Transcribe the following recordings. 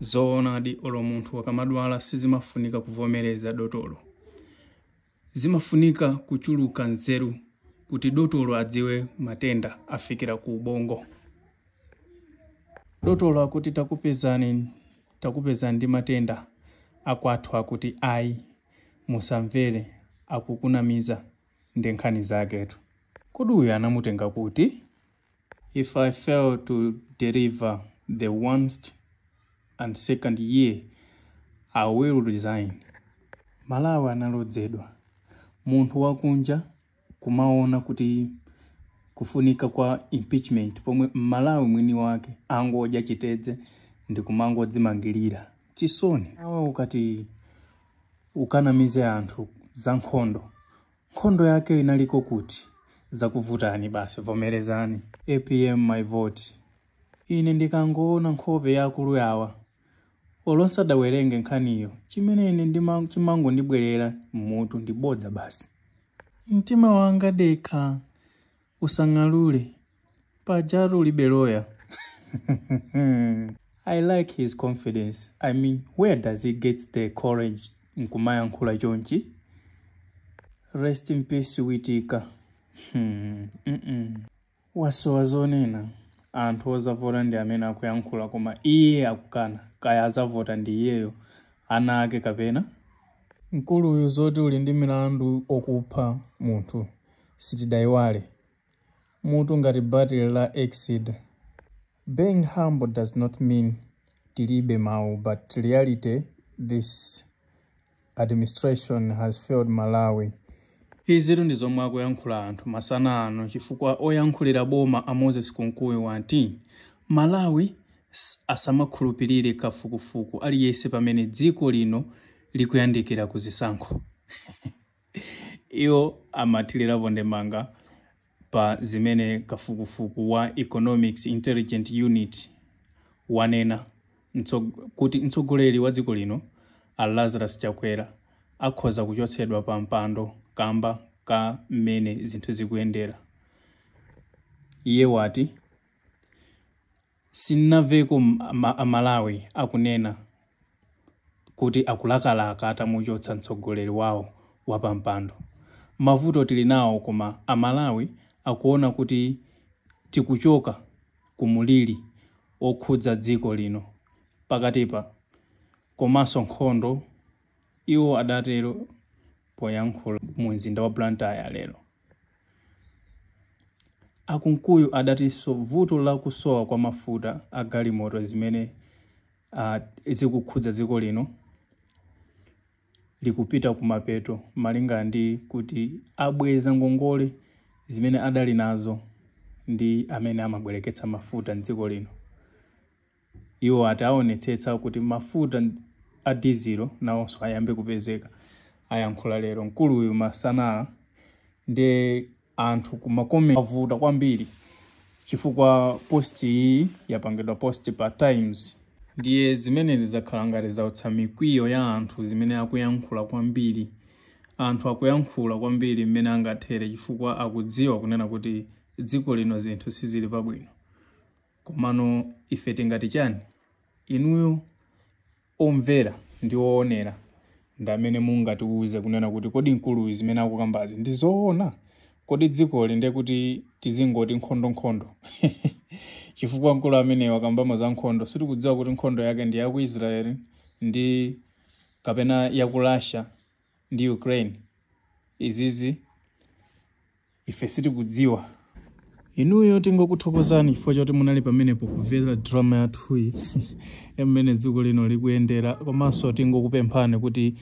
Zoonadi olo munthu akamadwala sizimafunika kuvomereza dotolo. Zimafunika kuchuluka nzeru kuti dotolo adziwe matenda afikira ku ubongo. Dotolo akuti takupezani ndi matenda akwathu akuti ayi musamvere akukunamiza ndi nkhani zaketu. Kodi uyu anamtenga kuti? If I fail to deliver in the first and second year, I will resign. Malawi analodzedwa. Munthu wakunja kumaona kuti kufunika kwa impeachment pomwe m'Malawi mwini wake angodya chitedze ndi kumangodzimangirira. Chisoni. Awa ukati ukanamize anthu za nkhondo Nkhondo yake inaliko kuti? Zakuvutani basi vomerezani. Apm my vote. Ine ndikangoona nkhope ya akulu awa olo nsadawerenge nkhaniyo chimene ine chimangondibwerera mmutu ndi bodza basi. Mtima wanga dekha usang'alule. Pajatu ulibe loya. I like his confidence. I mean, where does he get the courage nkumayankhula chonchi? Rest in peace Witika. Hmm. Mm -mm. Wasowa zonena anthu ozavota ndi amene akuyankhula koma iye akukana kaya azavota ndi iyeyo ndi ana ake kapena mkuluyu zoti uli ndi milandu okupha munthu sitidayiwale mutu ngati batile la Exide. Being humble does not mean tilibe mau but reality this administration has failed Malawi. Izitu ndi zomwe akuyankhula anthu masana ano chifukwa oyankhulira boma a Moses Kunkuyu wati Malawi asamakhulupilire kafukufuku aliyense pamene dziko lino likuyandikira ku zisankho. Iwo amathirirapo ndemanga pa zimene kafukufuku wa Economist Intelligence Unit wanena kuti mtsogoleri wa dziko lino a Lazarus Chakwera akhoza kuchotsedwa pa mpando kamba ka mmene zinthu zikuyendera. Iye wati. Sinnamveko a Malawi akunena kuti akulakalaka atamuchotsa mtsogoleri wawo pampando. Mavuto tili nawo koma a Malawi akuona kuti tikuchoka ku mulili okhudza dziko lino pakatipa komanso nkhondo. Iwo adatero poyankhula mu mzinda wa Blantyre lero. A Kunkuyu adatinso vuto la kusowa kwa mafuta a galimoto zimene uh, zikukhudza dziko lino likupita kumapeto malinga ndi kuti abweza ngongole zimene adali nazo ndi amene amabwereketsa mafuta m'dziko lino. Iwo ati awonetsetsa kuti mafuta a dizilo nawonso ayambe kupezeka. Ayankhula lero mkuluyu masana nde anthu ku ma comment kwavuta kwambiri chifukwa post iyi yapangidwa post pa Times. Ndiye zimenezi zakhala ngati zautsa mikwiyo ya anthu zimene akuyankhula kwambiri. Anthu akuyankhula kwambiri mmene angathere chifukwa akudziwa kunena kuti dziko lino zinthu sizili pabwino. Komano ife tingati chani? Inuyo omvera ndi oonera ndi amene mungatiuze kunena kuti kodi mkuluyu zimene akukambazi ndi zoona? Kodi dzikoli ndiye kuti tizingoti nkhondo nkhondo? Chifukwa mkulu ameneyu wakambamo za nkhondo sitikudziwa kuti nkhondo yake ndi ya ku Israel kapena ya ku Russia. ndi Ukraine. Izizi ife sitikudziwa. Inuyo tingokuthokozani chifukwa chakuti munali pamenepo kumvera drama yathuyi ya mmene dziko lino likuyendera, komanso tingokupemphani kuti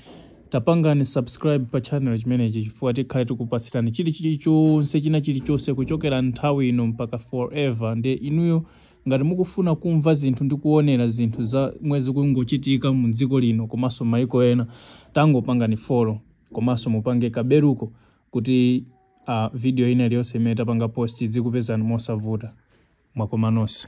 tapangani subscribe pa channel chimenechi chifukwa tikhale tikupatsirani chili chilichonse china chilichonse kuchokera nthawi ino mpaka forever. Ndiye inuyo Ngati mukufuna kumva zinthu ndi kuonera zinthu zomwe zikungochitika mu dziko lino komanso maiko ena tangopangani follow komanso mupange ka beluko kuti video ina iliyonse imene tapanga post idzikupezani mosavuta. Mwakoma nonse.